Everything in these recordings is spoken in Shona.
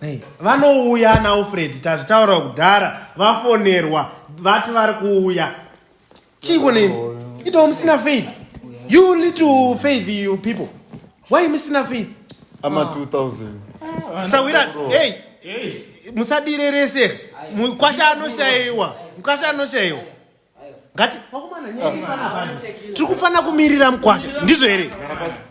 Hey, vanouya ana Alfred tazvitaura kudhara vafonerwa vati vari kuuya chiiko ne ito musina faith you need to faith you people why musina faith ama 2000 sawiras hey musadirerese mukwasha anoshayiwa mukwasha anoshayiwa ngati tiri kufanira kumirira mukwasha ndizvo here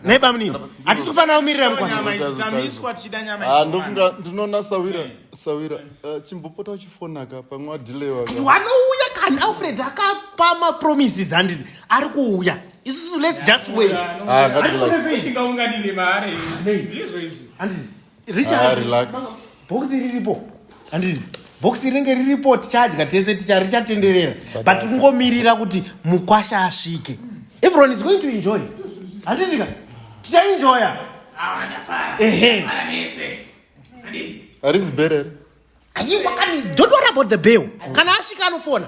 nhai bamunini hatisi kufanira kumirira mukwashandofunga ah, ndinoona sawira sawira eh, chimbopota uchifonaka pamwe adilewanouya kani alfred akapa mapromises handiti ari kuuya isusu lets just wait ah, Ah, relax. bhokisi riripo handizi bhokisi rinenge riripo tichadya tese ticha richatenderera but kungomirira kuti mukwasha asvike everyone is going to enjoy handizika tichaenjoya ehe Harizi bere here? Ayi, wakani, don't worry about the bill. Kana asvika anofona.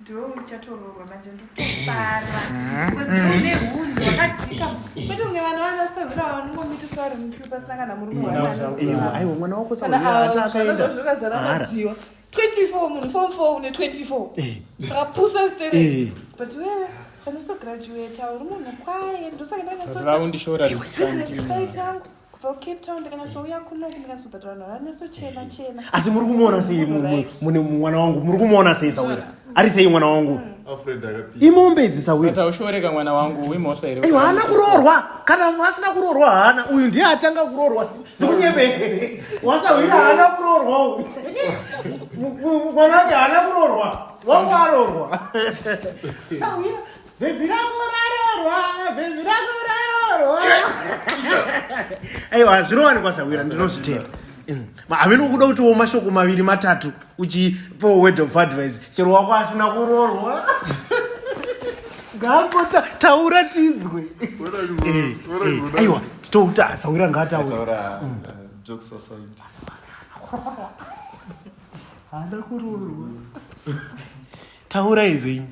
ndoichatoroorwa manje ndotofara une hunhu wakadzika kwete kunge vanhu vanasohura vanongomitiswa vari mukiu pasina kana murume waaiwa mwana wako saazvazvoka zara madziwa 24 munhu fom 4 une 24 akapusa stere but wewe vanosograduata uri munhu kwaye ndosaka ndaaundishoraangu asi muri kumuona sei mune mwana wangu muri kumuona sei sawira ari sei mwana wangu imombe idzi sawiraushoreka mwana wangu imhosva here haana kuroorwa kana asina kuroorwa haana uyu ndiye atanga kuroorwa ndikunyebe wasawira haana kuroorwa mwana wake haana kuroorwa wangu aroorwa Bhebhi rako rarorwa, bhebhi rako rarorwa. Aiwa, zvinowanikwa sahwira ndinozvitenda. Mm. Havino kuda kuti wo mashoko maviri matatu uchipo word of advice chero wako asina kurorwa. Ngapota taura tinzwe. Eh, eh, aiwa, titouta sahwira ngataura. Taura mm. eh, jokes aside. Hada kurorwa. taurai zvenyu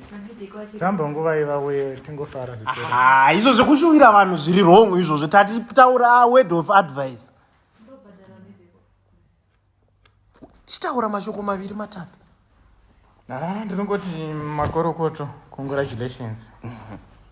dzamba nguva ivauye tingofara ah, izvo zvekushuvira vanhu zviri wrong izvozvo tati taura word of advice chitaura mashoko maviri matatu ah, ndinongoti makorokoto congratulations mm -hmm.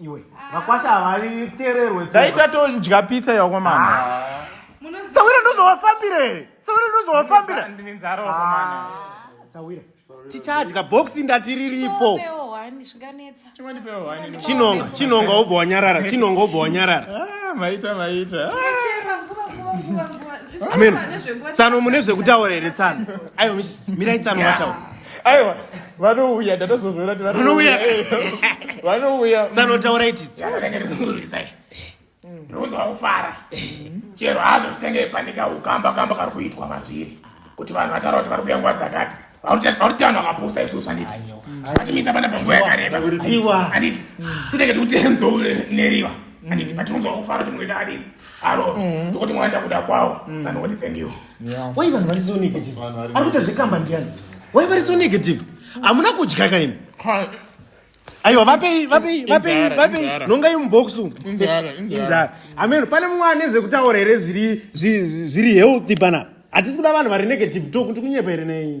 iwe vakwasha havaritererwe dai tatodya pizza yakomana ah. sawira ndozovafambira here sawira ndozovafambira ndine nzara wakomana ah. sawira tichadya boxi ndati riripo chinonga chinonga obva wanyarara chinonga obva wanyarara ah, maita maita ameno tsano mune zvekutaura here tsano ayo mirai tsano vataura aiwa vanouya ndatozozvona kuti vanouya vanouya dzanotaura itidzo ndinonzi vakufara chero hazvo zvitange panika ukamba kamba kari kuitwa mazviri kuti vanhu vataura kuti vari kuya nguva dzakati vakuti vanhu vakapusa isusu handiti vatimisa pana panguva yakareba handiti tinenge tikutenzo neriva handiti patinonzwa kufara kuti muita adini aro ndokuti mwaita kuda kwavo sanoti thank you why vanhu vari so negative ari kuita zvekamba ndiyani why vari so negative hamuna kudya kaimi aiwa vapei vapei vapei vapei nongai muboxu inzara ameno pane mumwe ane zvekutaura here zviri zviri healthy pana hatisi kuda vanhu vari negative to kuti kunyepa here nei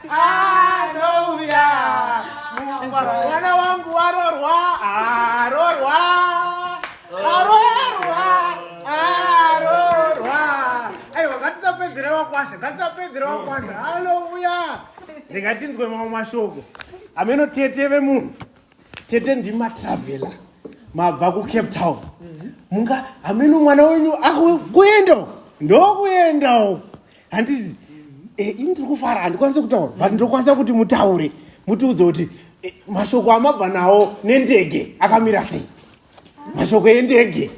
anouya mwana wangu warorwa arorwa arorwa arorwa aiwa ngatisapedzere wakwasha ngatisapedzere wakwasha anouya ndingatinzwe mamwe mashoko ameno tete vemunhu tete ndimatravela mabva kucape town munga ameno mwana wenyu akuenda ndokuendawo handizi eh, ini ndiri kufara handikwanise kutaura but ndokwanisa kuti mutaure mutiudze kuti eh, mashoko amabva nawo nendege akamira sei mashoko endege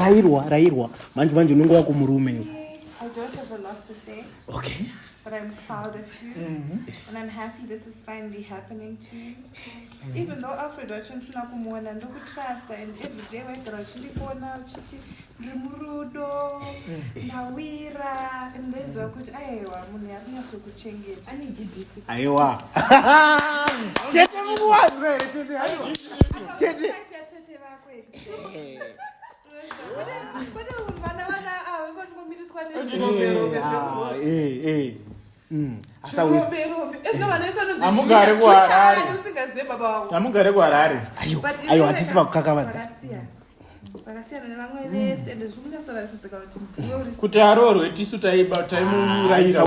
rairwa rairwa manje manje unenge wako murume iwe I don't have a lot to say, okay but I'm proud of you. And I'm happy this is finally happening to you. even though alfred wacho ndisina kumuona ndokutrusta and everyday waigara uchindifona uchiti ndiri murudo ndawira and ndaiziva kuti aiwa munhu yakunyasokuchengeta aiwa tete mukuwazwa here tete aiwa tete tete vako vana vana ava ah, ngotingomitiswa ne Mm, amugare kuharareamugare kuharare ayo hatisi pakukakavadza kuti aroorwe tisu taimuurayira